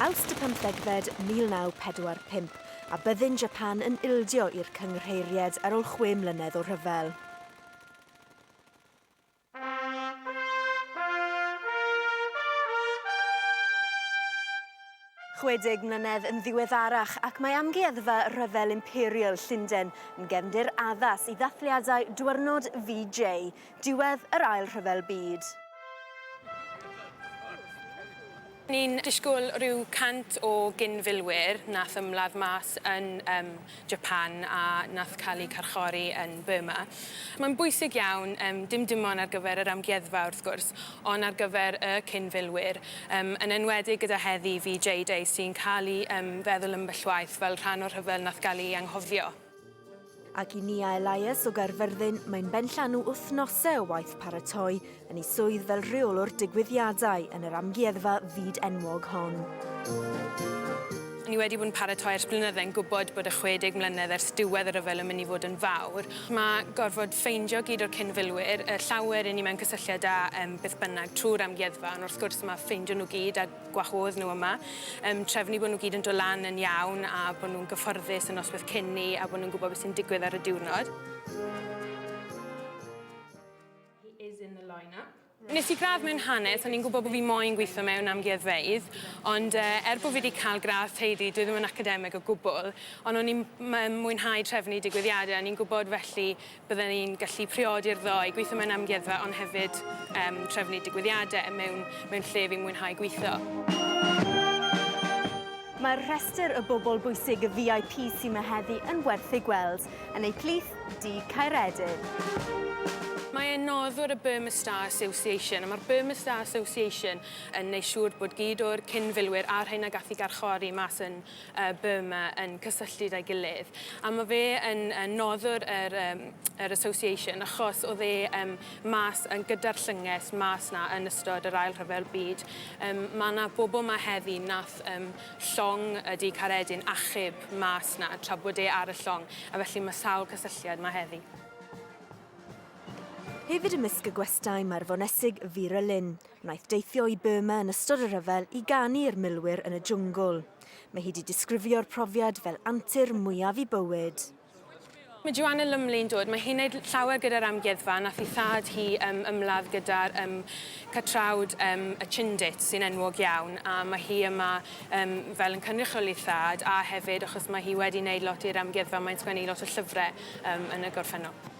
Awst y pymthegfed 1945, a byddin Japan yn ildio i'r cynghreiried ar ol chwe mlynedd o rhyfel. Chwedeg mlynedd yn ddiweddarach, ac mae amgueddfa rhyfel imperial Llunden yn gefndir addas i ddathliadau Dwyrnod VJ, Diwedd yr Ail Rhyfel Byd. Ni'n disgwyl rhyw 100 o gyn-filwyr nath ymladd mas yn yym Japan a nath cael eu carchori yn Burma. Mae'n bwysig iawn, yym dim dim ond ar gyfer yr amgueddfa wrth gwrs, ond ar gyfer y cyn-filwyr, yym yn enwedig gyda heddi, VJ Day, sy'n cael ei yym feddwl ambell waith fel rhan o'r rhyfel nath gael ei anghofio. Ac i Nia Elias o Gaerfyrddin, mae'n benllanw wythnosau o waith paratoi yn ei swydd fel rheolwr digwyddiadau yn yr amgueddfa fyd enwog hon. Ni wedi bod yn paratoi ers blynydde yn gwybod bod y 60 mlynedd ers diwedd y rhyfel yn mynd i fod yn fawr. Mae gorfod ffeindio gyd o'r cyn-filwyr, y llawer 'yn ni mewn cysylltiad â beth bynnag trwy'r amgueddfa, ond wrth gwrs mae ffeindio nhw gyd a gwahodd nhw yma. Yym, trefnu bod nhw gyd yn dod lan yn iawn a bod nhw'n gyfforddus y noswaith cyn ni a bod nhw'n gwybod beth sy'n digwydd ar y diwrnod. He is in the line-up. Nes i gradd mewn hanes, o'n i'n gwybod bod fi moyn gweithio mewn amgueddfeydd, ond uh, er bod fi wedi cael gradd teulu, dwi ddim yn academig o gwbl, ond o'n i'n mwynhau trefnu digwyddiadau, o'n i'n gwybod felly Bydden ni'n gallu priodi'r ddou, gweithio mewn amgueddfa ond hefyd um, trefnu digwyddiadau a mewn, mewn lle fi'n mwynhau gweithio. Mae'r rhestr y bobl bwysig y VIP sy'n yma heddi yn werth ei gweld yn eu plith di Caeredin. Mae e'n noddwr y Burma Star Association, a mae'r Burma Star Association yn neud siŵr bod gyd o'r cyn-filwyr a'r rhain a gath i garchori mas yn Burma yn cysylltud â'i gilydd. A mae fe yn noddwr yr, um, yr Association achos oedd e um, mas yn gyda'r llynges mas na yn ystod yr Ail Rhyfel Byd. Um, mae yna bobl mae heddi nath um, llong y du caredyn achub mas na tra bod e ar y llong a felly mae sawl cysylltiad mae heddi. Hefyd ymysg y gwestai mae'r fonesig Vera Lynn, Wnaeth deithio i Burma yn ystod y rhyfel i ganu i'r milwyr yn y jwngl. Mae hi wedi disgrifio'r profiad fel antur mwyaf i bywyd. Mae Joanna Lumley'n dod, mae hi'n wneud llawer gyda'r amgueddfa, nath i thad hi yym ymladd gyda'r yym catrawd yym y Chindits sy'n enwog iawn a mae hi yma yym fel yn cynrychioli'i thad a hefyd achos mae hi wedi wneud lot i'r amgueddfa mae'n sgwennu lot o llyfre yym yn y gorffennol.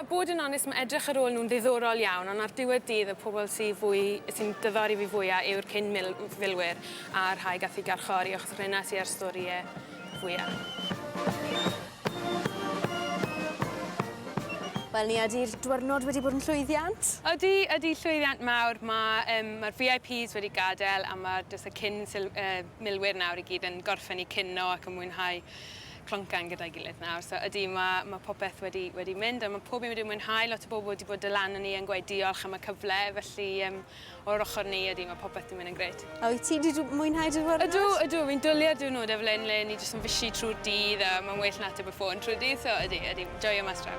A bod yn onest, mae edrych ar ôl nhw'n ddiddorol iawn, ond ar diwedd dydd y pobl sy'n fwy, sy'n diddori fi fwya yw'r cyn mil, filwyr a'r rhai gath eu garchori achos rhena sy ar storie fwya. Wel Nia, ydi'r dwyrnod wedi bod yn llwyddiant? Ydi, ydi llwyddiant mawr. Mae um, mae'r VIPs wedi gadael a mae jyst y cyn sil, uh, milwyr nawr i gyd yn gorffen i cynno ac yn mwynhau cloncan gyda'i gilydd nawr, so ydy, mae, mae popeth wedi, wedi mynd a mae pob un wedi mwynhau, lot o bobl wedi bod dylan ni yn gweud diolch am y cyfle, felly um, o'r ochr ni ydy, mae popeth wedi mynd yn gret. A wyt ti wedi mwynhau dy ddwrnod? Ydw, ydw, fi'n dwliau'r diwrnod fel hyn le ni jyst yn fysi trwy'r dydd a mae'n well na ateb y ffôn trwy'r dydd, so ydy, ydy, joio mas draw.